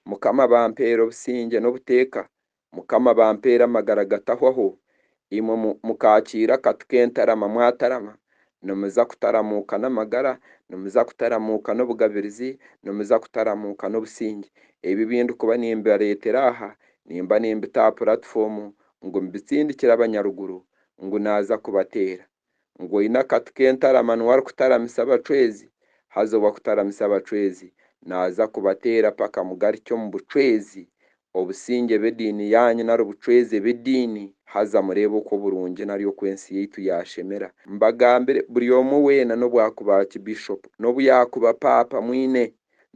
Mukama bampeera obusingye n'obuteeka, Mukama bampeera amagara gatahwaho, imwe mukaakiira akatu k'entarama mwatarama, nimuza kutaramuuka n'amagara, nimuza kutaramuuka n'obugabirizi, nimuza kutaramuuka n'obusingye. Ebi ebi ndikuba nimbareetera aha, nimba nimbita aha puratifomu ngu mbitsindikire abanyaruguru ngu naaza kubateera. ngu oine akati k'entarama niwe arikutaramisa abacwezi, haza ow'akutaramisa abacwezi naaza kubateera paka mugarukye omu bucwezi, obusingye b'ediini yaanyu nari obucwezi b'ediini, haza mureebe oku oburungi nari oku ensi yaitu yaashemera. Mbagambire, buri omwe weena n'obu akuba ki Bishop, n'obu yaakuba Paapa mwine,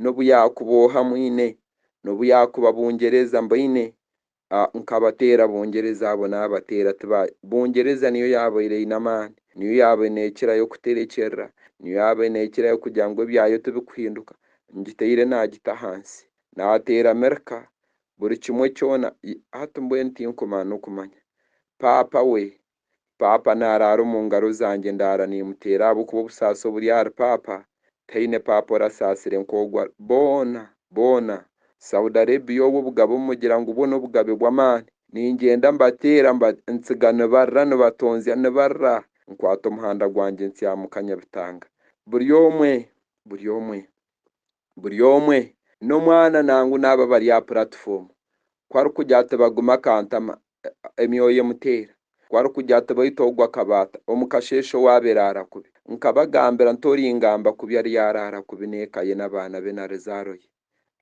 n'obu yaakuba oha mwine, n'obu yaakuba Bungyereza mbaine, A Nkabateera bongyereza abo naabateera tiba bongyereza niyo yaabaire eine amaani, niyo yaabaire neekirayo kuterekyerera, niyo yaabaire neekirayo kugira ngu ebyayo tibikuhinduka, ngitaire naagita ahansi. Naateera Mirka buri kimwe kyona, i hati mbwenu tinkumanya n'okumanya. Paapa we Paapa naaraara omu ngaro zangye ndaara nimuteera ahabw'okuba obusaasi oburi ahari Paapa taine Paapa orasaasire nk'ogu ari boona boona Saudi Arabia obwo obugabe omugira ngu bwo n'obugabe bw'amaani ningyenda mbateera mba ntsiga nibarra nibatonzya nibarra nkwata omuhanda gwangye ntsya muka Nyabitanga buri omwe buri omwe buri omwe, n'omwana nangu n'abo abari aha puratifomu, ku arikugira ati bagume akantama, emyoyo emuteera, ku arikugira ati baitu ogu akabaata, omu kasheeshe owaabaire araara kubi. Nkabagambira nti Oringamba kubi ariyo araara kubi n'eka ye n'abaana be na rizaaro ye,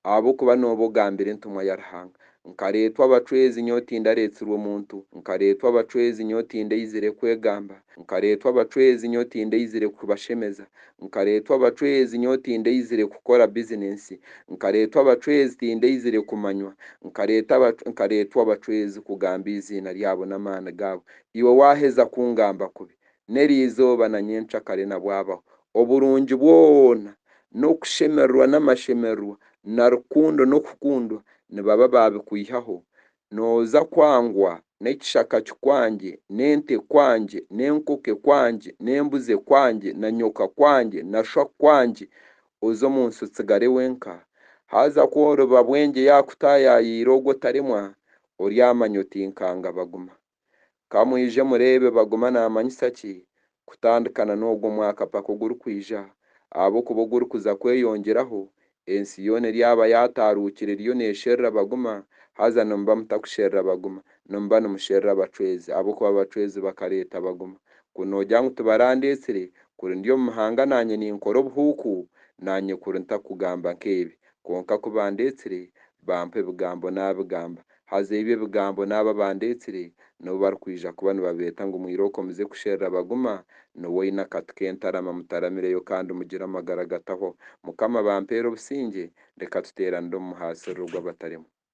ahabw'okuba nooba ogambire entumwa ya Ruhanga. Nkareetwa abacwezi nyowe tindareetsirwe muntu, nkareetwa abacwezi nyowe tindaizire kwegamba, nkareetwa abacwezi nyowe tindaizire kubashemeza, nkareetwa abacwezi nyowe tindaizire kukora bizinensi, nkareetwa abacwezi tindaizire kumanywa, nkareeta nkareetwa abacwezi kugamba eiziina ryabo n'amaani gaabo. Iwe waaheza kungamba kubi, n'eriizooba na nyencakare nabwabaho, oburungi bwona, n'okushemererwa n'amashemererwa, na rukundo n'okukundwa nibaba baabikwihaho, nooza kwangwa n'ekishaka kikwangye, n'ente ekwangye, n'enkoko ekwangye, n'embuzi ekwangye, na nyoka akwangye, na sho akwangye, oze omu nsi otsigare wenka. Haza ku oriba bwengye yaakutaayaayira ogwo otaremwa, oryamanya oti, Nkaanga baguma. Ka mwije mureebe baguma naamanyisa ki kutandikana n'ogu omwaka paka ogurikwija, ahabw'okuba ogurikuza kweyongyeraho, ensi yoona eryaba yaataaruukire eriyo neesherura baguma, haza nimuba mutakusherura baguma, nimuba nimusherura abacwezi, ahabw'okuba abacwezi bakareeta baguma. Ku noogira ngu tibarandeetsire, kuri ndi omu mahanga naanye ninkora obuhuuku, naanye kuri ntakugamba nk'ebi. Kwonka ku bandeetsire, bampa ebigambo naabigamba, Haza ebyo ebigambo n'abo abandeetsire nibo barikwija kuba nibabeeta ngu mwirooko muze kusherura baguma, nooba oine akatu k'entarama mutaramireyo kandi mugire amagara agatahwaho. Mukama bampeere obusingye, reka tuteeranire omu muhaasiriro gw'abataremwa.